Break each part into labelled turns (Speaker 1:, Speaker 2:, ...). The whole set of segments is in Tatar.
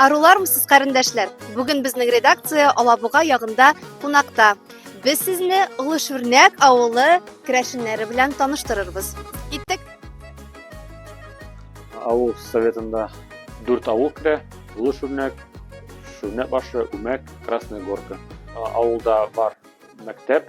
Speaker 1: Арулармысыз, карендәшләр? Бүген безнең редакция Алабуга ягында кунакта. Без сезне Олы Шүрнәк авылы керәшеннәре белән таныштырырбыз. Киттек.
Speaker 2: Авыл советында дүрт авыл керә. Олы Шүрнәк, Шүрнәк башы, Үмәк, Красная Горка. Авылда бар мәктәп,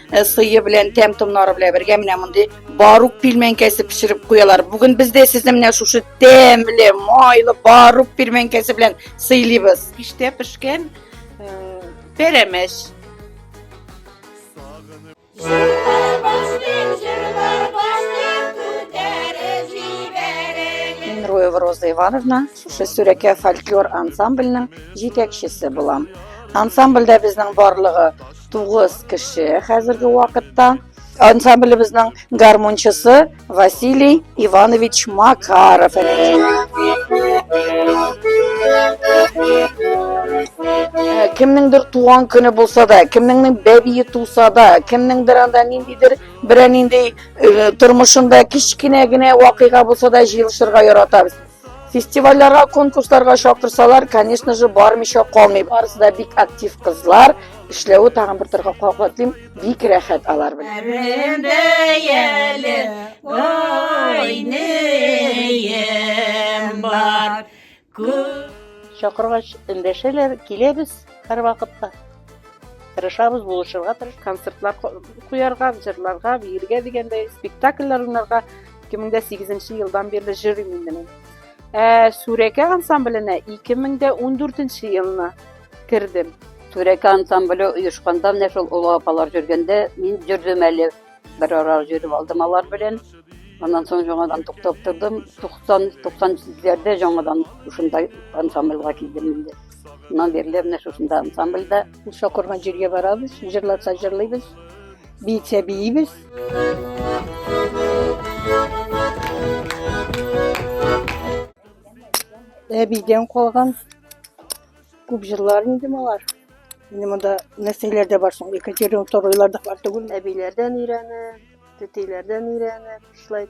Speaker 3: Э, сыйы белән тәм томнары белән бергә менә мондый барук пилмәнкәсе пешереп куялар бүген без дә сезне менә шушы тәмле майлы барук пилмәнкәсе белән сыйлыйбыз пиштә пешкән
Speaker 4: э, пәрәмәч
Speaker 3: Минроева Роза Ивановна шушы Сүрәкә фольклор ансамбленең җитәкчесе булам. Ансамбльдә безнең барлыгы Тугыз кеше хәзерге вакытта. Ансамблебезнең гармончысы Василий Иванович Макаров. Кемнеңдер туган көне булса да, кемнеңнең бәбие туса да, кемнеңдер анда ниндидер берәр нинди тормышында кечкенә генә вакыйга булса да җыелышырга яратабыз. фестивальләргә конкурсларга чакырсалар конечно же бармыйча калмый барысы да бик актив кызлар эшләве тагын бер торга кабатлыйм бик рәхәт алар белән
Speaker 4: чакыргач эндәшәләр киләбез һәрвакытта тырышабыз булышырга тырыш концертлар куярга җырларга биергә дигәндәй спектакльләр уйнарга 2008 елдан бирле җырыйм инде мин. Ә Сүрәкә ансамбленә 2014 елны кердем. Сүрәкә
Speaker 5: ансамбле оешканда менә шул олы апалар җөргәндә мин җөрдем әле. Бер ара җөреп алдым алар белән. Аннан соң жаңадан туктап тордым. 90 97-ләрдә жаңадан шунда ансамбльгә килдем инде. Моннан бирле менә шушында ансамбльдә Муса корган җиргә
Speaker 4: барабыз, җырлатса җырлыйбыз, биетсә биибез. Әбидән калган күп җырлар инде малар. Инде монда нәрсәләр дә бар соң, Екатерин Второйлар да бар түгел. Әбиләрдән өйрәнеп,
Speaker 6: тетейләрдән өйрәнеп, шулай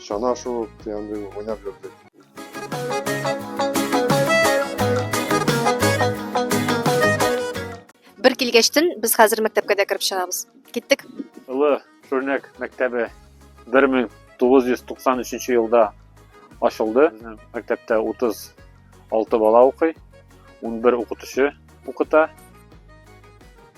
Speaker 7: чана шуып, андый уйнап йөрдек.
Speaker 1: Бер килгәчтен без хәзер мәктәпкә дә кереп чыгабыз. Киттек. Олы
Speaker 2: Шүрнәк мәктәбе 1993 елда ачылды. Безнең мәктәптә 36 бала укый, 11 укытучы укыта.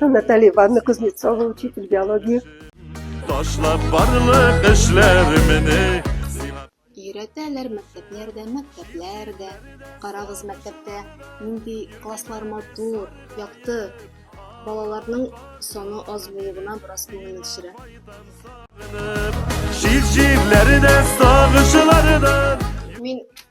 Speaker 4: Наталья Ивановна Кузнецова, учитель биологии. Ташлап барлык эшләремне
Speaker 1: Өйрәтәләр мәктәпләрдә, мәктәпләрдә. Карагыз мәктәптә нинди класслар матур, якты. Балаларның соны аз булуы гына бераз күңелне төшерә. Җир җирләрдә сагышлардан Мин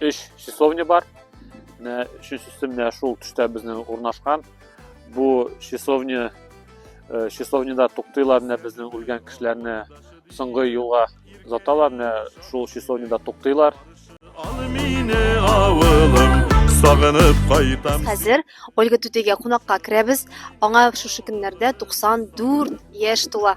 Speaker 2: өч числовня бар менә өченче өстемдә шул төштә безнең урнашкан бу числовня э, числовняда туктыйлар менә безнең үлгән кешеләрне соңгы юлга озаталар менә шул числовняда туктыйлар ал мине авылым
Speaker 1: сагынып кайтам хәзер ольга түтигә кунакка керәбез аңа шушы көннәрдә 94 яшь тула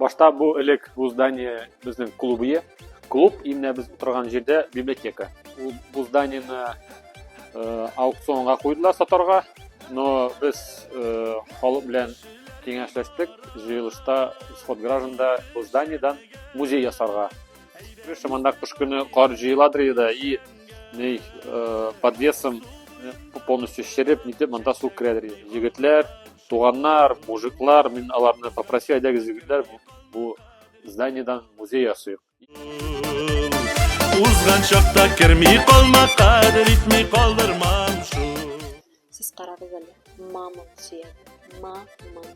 Speaker 2: Башта бу элек бу здание безнең клубы. Клуб именно без утырган җирдә библиотека. Ул бу зданиене э, аукционга куйдылар сатарга, но без э, халык белән киңәшләштек, җыелышта исход гражданда бу зданиедан музей ясарга. Шушы монда кыш көне кар җыеладыр иде и ней э, подвесом э, полностью шереп нитеп монда су керәдер иде. Егетләр Туганнар, мужиклар, мин аларны попросил, әйдәгез, егетләр, бу зданиедан музей ясыйк. Узган чакта керми калма, кадер итми калдырмам шу. Сез
Speaker 1: карагыз әле, мамон сөяге, мамон.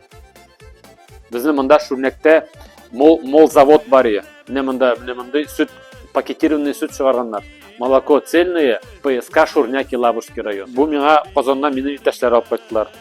Speaker 2: Безнең монда Шүрнәктә мол, мол завод бар ие. Менә монда, менә мондый сөт, пакетированный сөт чыгарганнар. Молоко цельное, ПСК Шурняки Лабушки район. Бу миңа Казаннан мине иптәшләр алып кайттылар.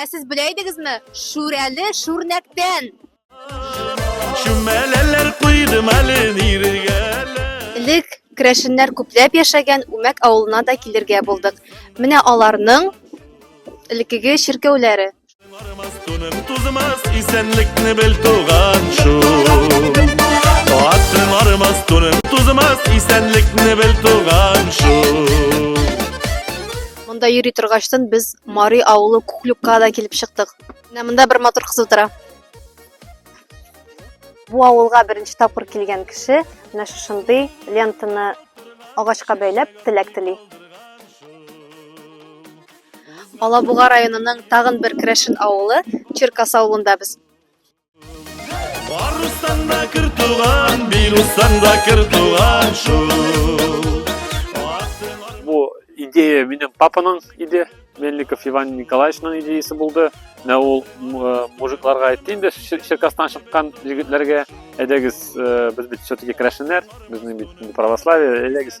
Speaker 1: Ә сез белә идегезме? Шүрәле шүрнәктән. Шүмәләләр куйдым әле ниргә. Элек керәшеннәр күпләп яшәгән Үмәк авылына да килергә булдык. Менә аларның элеккеге чиркәүләре. Монда йөри торгаштан без Мари авылы Куклюкка да килеп чыктык. Менә монда бер матур кыз утыра. Бу авылга беренче тапкыр килгән кеше менә шушындый лентаны агачка бәйләп теләк тели. Алабуга районының тагын бер керәшен авылы Черкас авылында без. Барыстан
Speaker 8: да кер туган, бирустан да кер туган шул.
Speaker 2: Бу идея минем папаның иде. Мельников Иван Николаевичның идеясы булды. Менә ул э, мужикларга әйтте инде, Черкастан чыккан егетләргә, әйдәгез, э, без бит все-таки керәшеннәр, безнең бит православие, әйдәгез,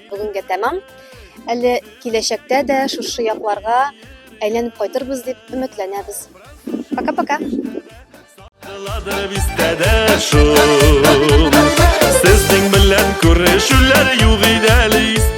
Speaker 1: бүгенгә тәмам. Әле киләчәктә дә шушы якларга әйләнеп кайтырбыз дип өметләнәбез.
Speaker 8: Пока-пока. Сезнең белән күрешүләр юк иде әле истә.